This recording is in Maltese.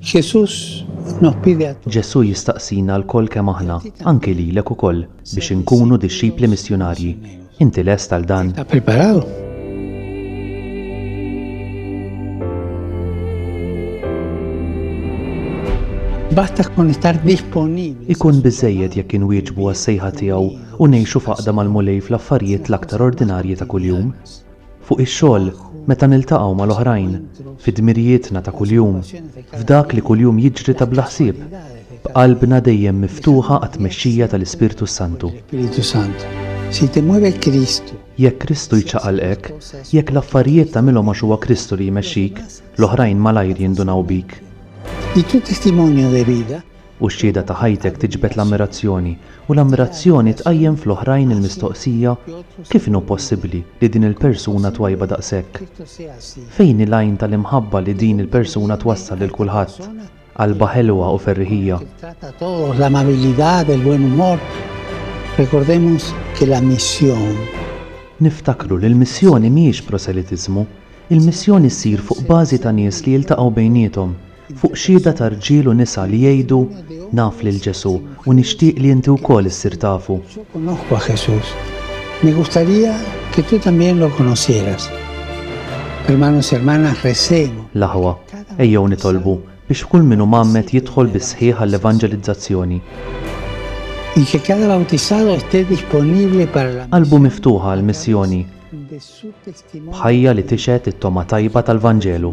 Jesús nos pide a todos. Ġesù jistaqsina lkoll kemm aħna, anki lilek ukoll, biex inkunu dixxipli missjunarji. Inti lest għal dan? Estás preparado? Basta con estar disponibles. Ikun biżżejjed jekk inwieġbu għas-sejħa tiegħu u ngħixu f'għaqda mal-Mulej fl-affarijiet l-aktar ordinarji ta' kuljum. fuq ix-xogħol, meta niltaqgħu mal-oħrajn, fi dmirijietna ta' kuljum, f'dak li kuljum jiġri ta' bla ħsieb, b'qalbna dejjem miftuħa għat-tmexxija tal-Ispirtu s-Santu. Jekk Kristu jċaqalqek, jekk l-affarijiet tagħmilhom għax huwa Kristu li jmexxik, l-oħrajn malajr jindunaw bik. u x-xhieda ta' ħajtek tiġbed l-ammirazzjoni, u l-ammirazzjoni tqajjem fl-oħrajn il-mistoqsija, Kif inhu possibbli li din il-persuna twajba daqshekk? Fejn hi l-għajn tal-imħabba li din il-persuna twassal lil kulħadd? Qalbha ħelwa u ferriħija. Niftakru li l-missjoni mhijiex proselitiżmu. Il-missjoni ssir fuq bażi ta' nies li jiltaqgħu bejniethom. fuq xhieda ta' rġiel u nisa li jgħidu, Naf lil Ġesù, u nixtieq li inti wkoll issir tafu. Yo conozco a Jesús. Me gustaría que tú también lo conocieras. Hermanos y hermanas, recemos. L-aħwa, ejjew nitolbu biex kull min hu mgħammed jidħol bis-sħiħ għall-evanġelizzazzjoni. Y que cada bautizado esté disponible para la. Qalbu miftuħa għall-missjoni. b'ħajja li tixhed it-togħma tajba tal-Vanġelu.